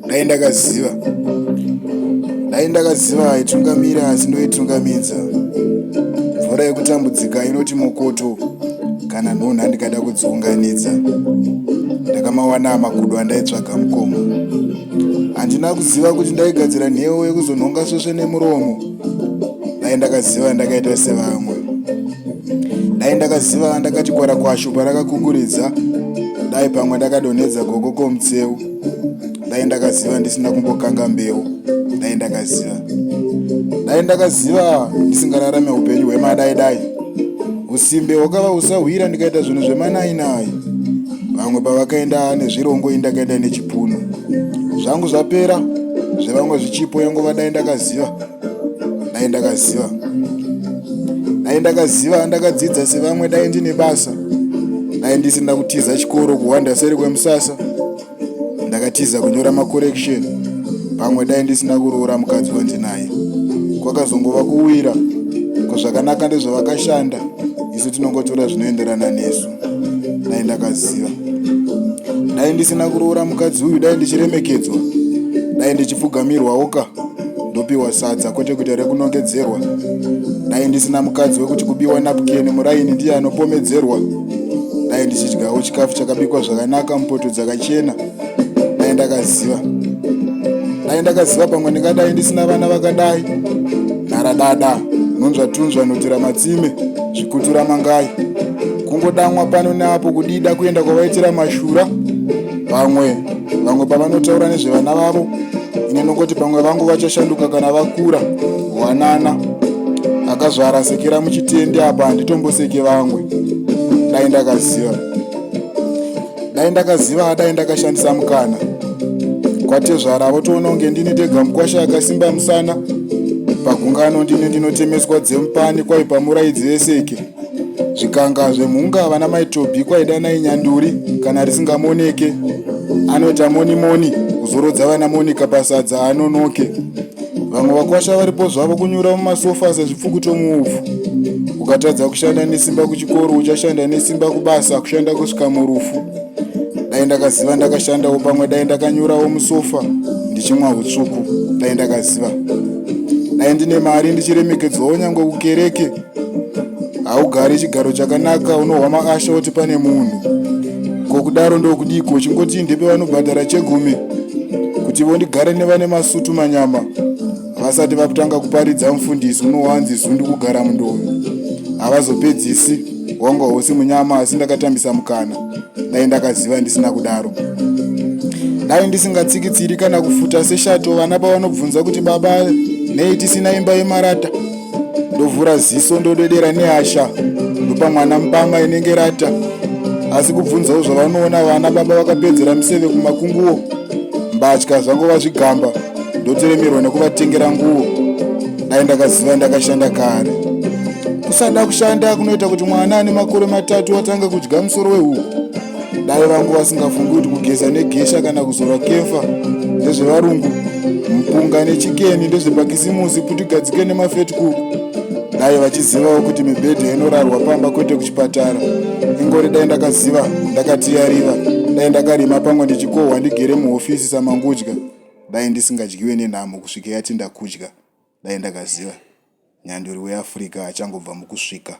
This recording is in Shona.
dai ndakaziva dai ndakaziva aitungamira asi ndoitungamidza mvura yekutambudzika inoti mokoto kana nhunha ndikada kudziunganidza ndakamawana makudo andaitsvaga mukoma handina kuziva kuti ndaigadzira nhewo yekuzonhonga svesve nemuromo dai ndakaziva ndakaita sevamwe dai ndakaziva ndakati kwara kwashu parakakukuridza dai pamwe ndakadonhedza gogo komutseu dai ndakaziva ndisina kumbokanga mbeu dai ndakaziva dai ndakaziva ndisingararame upenyu hwemadai dai usimbe hwakava usahwira ndikaita zvinhu zvemanainai vamwe pavakaenda nezvirongo ini ndakaenda nechipunu zvangu zvapera zvevamwe zvichipo yengova dai ndakaziva dai ndakaziva dai ndakaziva ndakadzidza sevamwe dai ndine basa dai ndisina kutiza chikoro kuhwanda seri kwemusasa ndakatiza kunyora macorrection pamwe dai ndisina kuroora mukadzi wandinaye kwakazongova kuwira ko zvakanaka ndezvavakashanda isu tinongotora zvinoenderana nesu dai ndakaziva dai ndisina kuroora mukadzi uyu dai ndichiremekedzwa dai ndichipfugamirwawo ka ndopiwa sadza kwete kuita rekunongedzerwa dai ndisina mukadzi wekuti kubiwa napukeni muraini ndiye anopomedzerwa dai ndichidyawo chikafu chakabikwa zvakanaka mupoto dzakachena dai ndakaziva dai ndakaziva pamwe ndingadai ndisina vana vakadai nharadada nunzva tunzva notira matsime zvikutura mangai kungodamwa pano neapo kudida kuenda kwavaitira mashura vamwe vamwe pavanotaura nezvevana vavo ine nokoti pamwe vangu vachashanduka kana vakura wanana akazvara sekera muchitende apa handitomboseke vamwe dai ndakaziva dai ndakaziva dai ndakashandisa mukana kwatezvara votoona kunge ndini tega mukwasha akasimba musana pagungano ndini ndinotemeswa dzemupani kwaipa muraidzi veseke zvikanga zvemhunga vana maitobi kwaidanai nyanduri kana risingamoneke anoita monimoni kuzorodza vana monika pasadza anonoke vamwe vakwasha varipo zvavo kunyura mumasofa sezvipfuku tomuvhu ukatadza kushanda nesimba kuchikoro uchashanda nesimba kubasa kushanda kusvika murufu dai ndakaziva ndakashandawo pamwe dai ndakanyurawo musofa ndichimwa utsvuku dai ndakaziva dai ndine mari ndichiremekedzwawo nyange kukereke haugari chigaro chakanaka unohwa maasha oti pane munhu ko kudaro ndokudiko uchingoti ndepe vanobhadhara chegumi kuti vondigare nevane masutu manyama vasati vakutanga kuparidza mufundisi unowanzi zundu kugara mundovi havazopedzisi wanga hosi munyama asi ndakatambisa mukana dai ndakaziva ndisina kudaro dai ndisingatsikitsiri kana kufuta seshato vana pavanobvunza kuti baba nei tisina imba yemarata ndovhura ziso ndodedera nehasha ndopa mwana mbama inenge rata asi kubvunzawo zvavanoona vana baba vakapedzera miseve kumakunguwo mbatya zvango vazvigamba ndoteremerwa nekuvatengera nguwo dai ndakaziva ndakashanda kare kusada kushanda kunoita kuti mwana ane makore matatu atanga kudya musoro wehuku dai vangu vasingafungi kuti kugeza negesha kana kuzora kefa ndezvevarungu mpunga nechikeni ndezvepakisimusi kuti gadzike nemafetcook dai vachizivawo kuti mibhedha inorarwa pamba kwete kuchipatara ingori dai ndakaziva ndakatiyariva dai ndakarima pamwe ndichikohwa ndigere muhofisi samangudya dai ndisingadyiwe nenhamo kusvika yati ndakudya dai ndakaziva nyanduri weafrica achangobva mukusvika